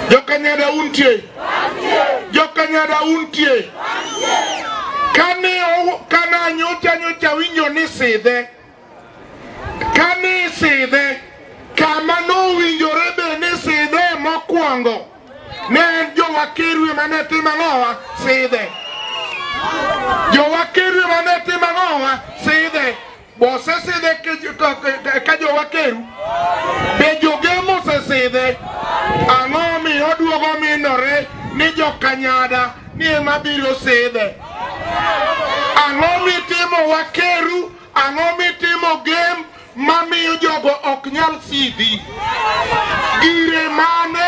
Jokanyada untie? Jokanyada untie? Kane ow- kana nyocha nyocha winjo ni sidhe kani sidhe kama nowinjore be ni sidhe mokwongo ne en jowakerwe mane timo ang'owa sidhe jowakerwe mane timo ang'owa sidhe Bosesidhe ka jowakeru be jogemo osesidhe ang'o omiyo oduogo minore ni jokanyada ni ema biro sidhe ang'o mitimo wakeru ang'o mitimo gem mamiyo jogo ok nyal sidhi gire mane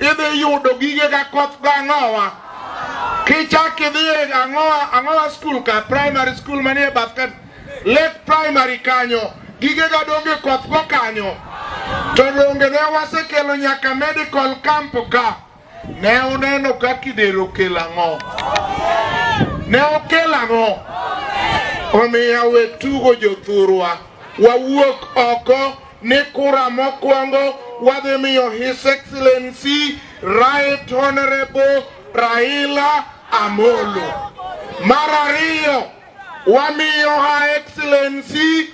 idhi yudo gige ka koth gang'owa kichak idhi e ang'owa ang'owa skul ka primary skul manie bath ka lake primary kanyo gige ga donge koth go kanyo to donge ne wasekelo nyaka medical camp ka ne uneno ka kidero kel ang'o ne okel ang'o omiyo we tugo jothurwa wawuok oko ni kura mokwongo wadhi miyo His Excellency Right Honorable Raila Amolo. Mar ariyo wamiyo Her Excellency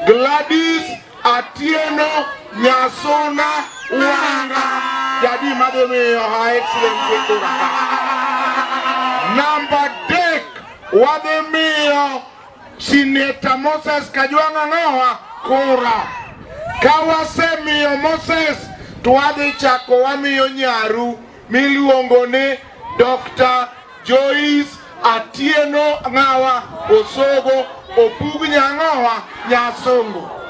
Gladys Atieno Nyasuna Wanga jadi madhi miyo Her Excellency kura ka. Namba adek wadhi miyo Sineta Moses Kajwang' Ang'owa kura. Ka wasemiyo Moses to wadhi chako wamiyo nyaru miluongo ni Dr. Joyce Atieno Ng'awa Osogo Opug Nyang'owa Nyasongo.